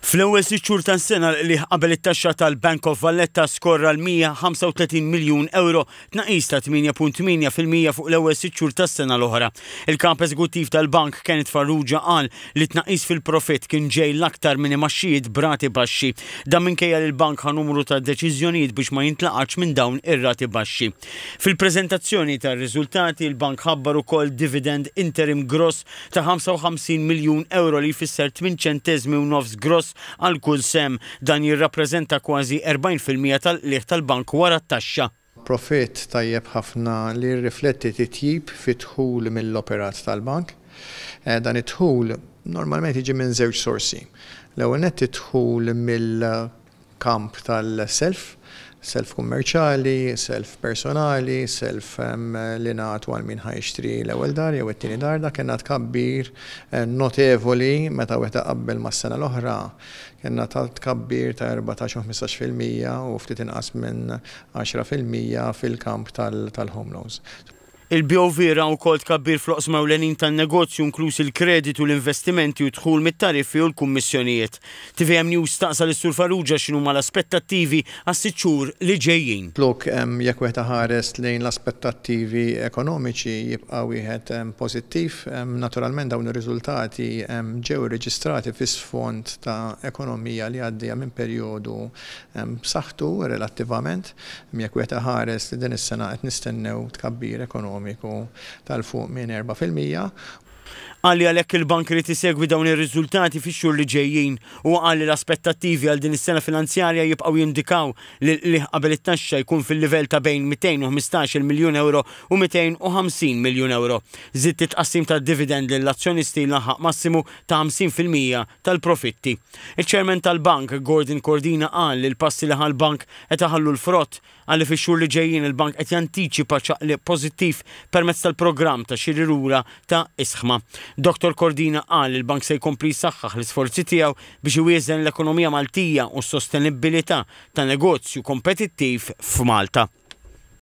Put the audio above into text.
Fl-ewwel sitt xhur tas-sena l-qligħ qabel it-taxxa tal-Bank of Valletta skorra l-135 miljun ewro, tnaqqis ta' 8.8 fil-mija fuq l-ewwel sitt xhur tas-sena l-oħra. Il-Kap Eżekuttiv tal-Bank, Kenneth Farrugia qal li t-tnaqqis fil-profitt kien ġej l-aktar minn imgħaxxijiet b'rati baxxi. Dan minkejja li l-Bank ħa numru ta' deċiżjonijiet biex ma jintlaqatx minn dawn ir-rati baxxi. Fil-preżentazzjoni tar-riżultati, il-Bank ħabbar ukoll dividend interim gross ta' 55 miljun ewro li jfisser tmien ċenteżmi u nofs gross għal kull sehem. Dan jirrappreżenta kważi 40 fil-mija tal-qligħ tal-bank wara t-taxxa. Profitt tajjeb ħafna li jirrifletti titjib fid-dħul mill-operat tal-bank. Dan id-dħul normalment jiġi minn żewġ sorsi. L-ewwel nett id-dħul mill. kamp tal-self, self kummerċjali, self personali, self li nagħtu għal min ħa jixtri l-ewwel dar jew it-tieni dar, dak kellna tkabbir notevoli meta wieħed iqabbel mas-sena l-oħra. Kellna tkabbir ta' erbatax u ħmistax fil-mija u ftit inqas minn għaxra fil-mija fil-kamp tal-home loans. Il-BOV ra wkoll tkabbir fl-oqsma ewlenin tan-negozju inkluż il-kreditu, l-investimenti u d-dħul mit-tariffi u l-kummissjonijiet. Tvm News staqsa lis-Sur Farrugia x'inhuma l-aspettattivi għas-sitt xhur li ġejjin. Lok, jekk wieħed iħares lejn l-aspettattivi ekonomiċi jibqa' wieħed pożittiv. Naturalment dawn ir-riżultati ġew irreġistrati fi sfond ta' ekonomija li għaddejja minn perjodu b'saħħtu relattivament. Jekk wieħed iħares li din is-sena qed nistennew tkabbir ekonomiku ta' 'l fuq minn erbgħa fil-mija. Qal li għalhekk il-Bank irid isegwi dawn ir-riżultati fix-xhur li ġejjin. Huwa qal li l-aspettattivi għal din is-sena finanzjarja jibqgħu jindikaw li l-qligħ qabel it-taxxa jkun fil-livell ta' bejn 215-il miljun ewro u 250 miljun ewro. Żied it-tqassim tad-dividend lill-azzjonisti jlaħħaq massimu ta' 50 fil-mija tal-profitti. Iċ-Chairman tal-Bank, Gordon Cordina qal li l-passi li ħa l-Bank qed iħallu l-frott. Qal li fix-xhur li ġejjin il-Bank qed jantiċipa ċaqliq pożittiv permezz tal-programm ta' xiri lura ta' Isħma. Dottor Cordina qal li l-Bank se jkompli jsaħħaħ l-isforzi tiegħu biex iwieżen l-ekonomija Maltija u s-sostenibbilità ta' negozju kompetittiv f'Malta.